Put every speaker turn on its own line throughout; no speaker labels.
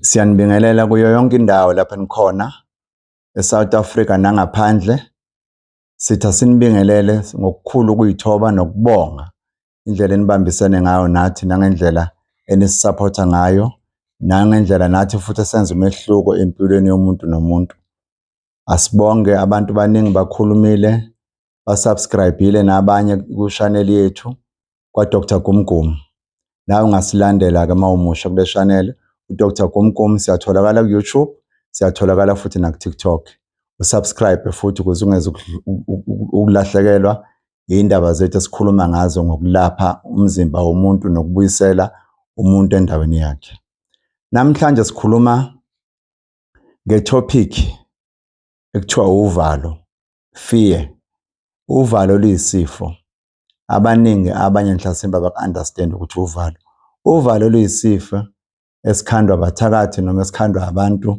Siyanibingelela kuyo yonke indawo lapho nikhona eSouth Africa nangaphandle. Sitha sinibingelele ngokukhulu ukuyithoba nokubonga indlela enibambisene ngayo nathi nangendlela enisisaphotha ngayo nangendlela nathi futhi esenza umehluko empilweni yomuntu nomuntu. Asibonge abantu baningi bakhulumile basubscribile nabanye kushaneli yethu kwa-Dr Gumgum nawe ungasilandela-ke uma umusha kule shaneli u-Dr Gumgum siyatholakala ku-YouTube siyatholakala futhi naku-TikTok usubscribe futhi ukuze ungeze ukulahlekelwa yindaba zethu esikhuluma ngazo ngokulapha umzimba womuntu nokubuyisela umuntu endaweni yakhe namhlanje sikhuluma ngetopic ekuthiwa uvalo fear, uvalo luyisifo. Abaningi abanye ngihlasimba baku-understand ukuthi uvalo. Uvalo luyisifo esikhandwa abathakathi noma esikhandwa abantu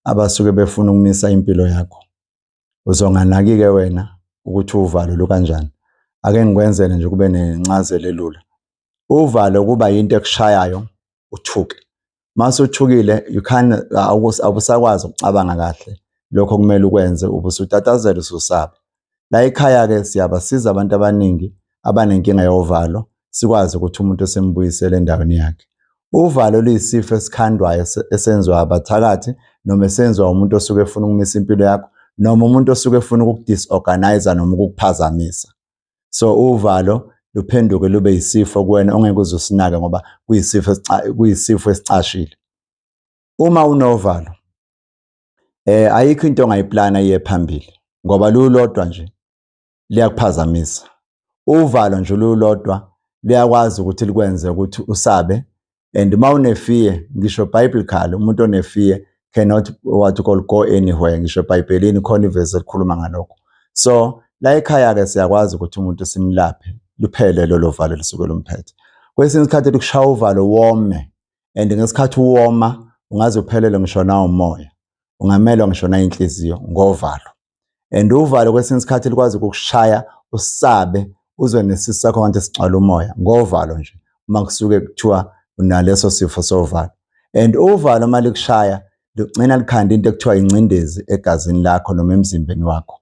abasuke befuna ukumisa impilo yakho. Uzonganaki-ke wena ukuthi uvalo lukanjani. Ake ngikwenzele nje kube nencazelo elula. Uvalo kuba yinto ekushayayo uthuke. mase uthukile you can awusakwazi ukucabanga kahle lokho kumele ukwenze ubusutatazela ususaba la ekhaya ke siyabasiza abantu abaningi abanenkinga yovalo sikwazi ukuthi umuntu esimbuyisele endaweni yakhe uvalo luyisifo esikhandwayo esenziwa abathakathi noma esenziwa umuntu osuke efuna ukumisa impilo yakho noma umuntu osuke efuna ukukudisorganize noma ukukuphazamisa so uvalo luphenduke lube yisifo kuwena ongeke uze usinake ngoba kuyisifo kuyisifo esicashile uma unovalo eh ayikho into ongayiplana iye phambili ngoba lulodwa nje liyakuphazamisa uvalo nje lulodwa liyakwazi ukuthi likwenze ukuthi usabe and uma unefear ngisho biblical umuntu onefear cannot what you call go anywhere ngisho ebhayibhelini khona ivesi elikhuluma ngalokho so la ekhaya-ke siyakwazi ukuthi umuntu simlaphe luphele lolo valo lisuke lumphethe kwesinye isikhathi likushaya uvalo wome and ngesikhathi uwoma ungaze uphelele ngisho nawumoya ungamelwa ngisho nayinhliziyo ngovalo and uvalo kwesinye isikhathi likwazi ukukushaya usabe uzwe nesisu sakho ngathi sigcwala umoya ngovalo nje uma kusuke kuthiwa unaleso sifo sovalo and uvalo uma likushaya ligcina likhanda into ekuthiwa ingcindezi egazini lakho noma emzimbeni wakho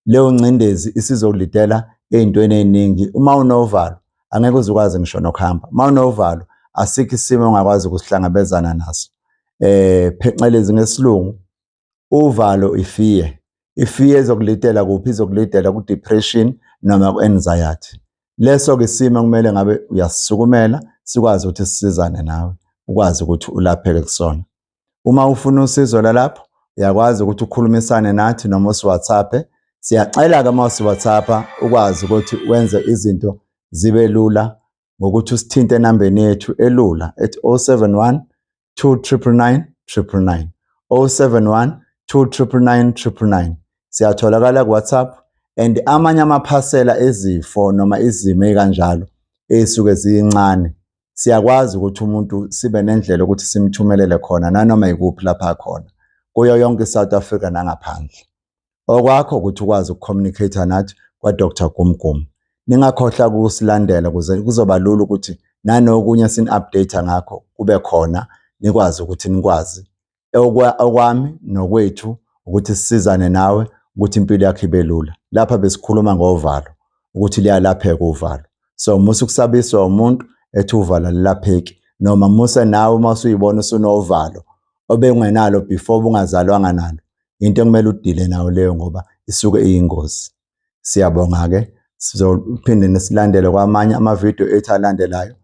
leyo ngcindezi isizokulidela ey'ntweni ey'ningi uma unovalo angeke uze ukwazi ngisho nokuhamba uma unovalo asikho isimo ongakwazi ukusihlangabezana naso eh phecelezi ngesilungu uvalo ifear ifear ezokulidela kuphi izokulidela ku depression noma ku anxiety leso ke isimo kumele ngabe uyasisukumela sikwazi ukuthi sisizane nawe ukwazi ukuthi ulapheke kusona uma ufuna usizo lalapho uyakwazi ukuthi ukhulumisane nathi noma usiwhatsapp siyacela ke uma usiwhatsapp ukwazi ukuthi wenze izinto zibe lula ngokuthi usithinte enambeni yethu elula ethi 071 29999 071 29999 siyatholakala kuWhatsApp and amanye amaphasela ezifo noma izimo ezikanjalo ezisuke ziyincane siyakwazi ukuthi umuntu sibe nendlela ukuthi simthumelele khona nanoma yikuphi lapha khona kuyo yonke iSouth Africa nangaphandle okwakho ukuthi ukwazi ukucommunicate nathi kwa-dr gumgum ningakhohlwa ukusilandela kuze kuzoba lula ukuthi nanokunye sini-update ngakho kube khona nikwazi ukuthi nikwazi okwami nokwethu ukuthi sisizane nawe ukuthi impilo yakho ibe lula lapha besikhuluma ngovalo ukuthi liyalapheka uvalo so musa ukusabiswa umuntu ethi uvalo alilapheki noma musa nawe uma usuyibona usunovalo obengenalo before bungazalwanga nalo into ekumele udile nayo leyo ngoba isuke iyingozi siyabonga-ke sizophinde nisilandele kwamanye amavidiyo ethu alandelayo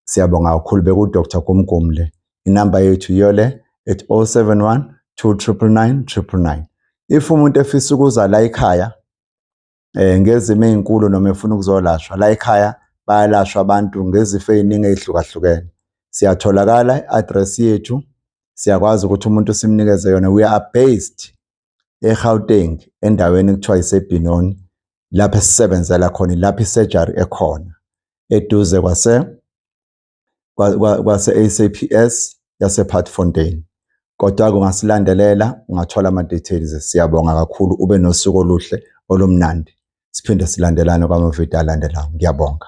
siyabonga kakhulu bekudr gumgumu le inamba yethu yiyo le ethi 071 299 999 if umuntu efisa ukuza la ekhaya eh ngezimo ezinkulu noma efuna ukuzolashwa la ekhaya bayalashwa abantu ngezifo eziningi ezihlukahlukene siyatholakala i-address yethu siyakwazi ukuthi umuntu simnikeze yona we are based eGauteng endaweni ekuthiwa iseBinoni lapho esisebenzela khona lapho isurgery ekhona eduze kwase kwase-SAPS yasePartfontein. Kodwa-ke ungasilandelela, ungathola ama-details. Siyabonga kakhulu, ube nosuku oluhle olumnandi. Siphinde silandelane kwamavidiyo alandelayo. Ngiyabonga.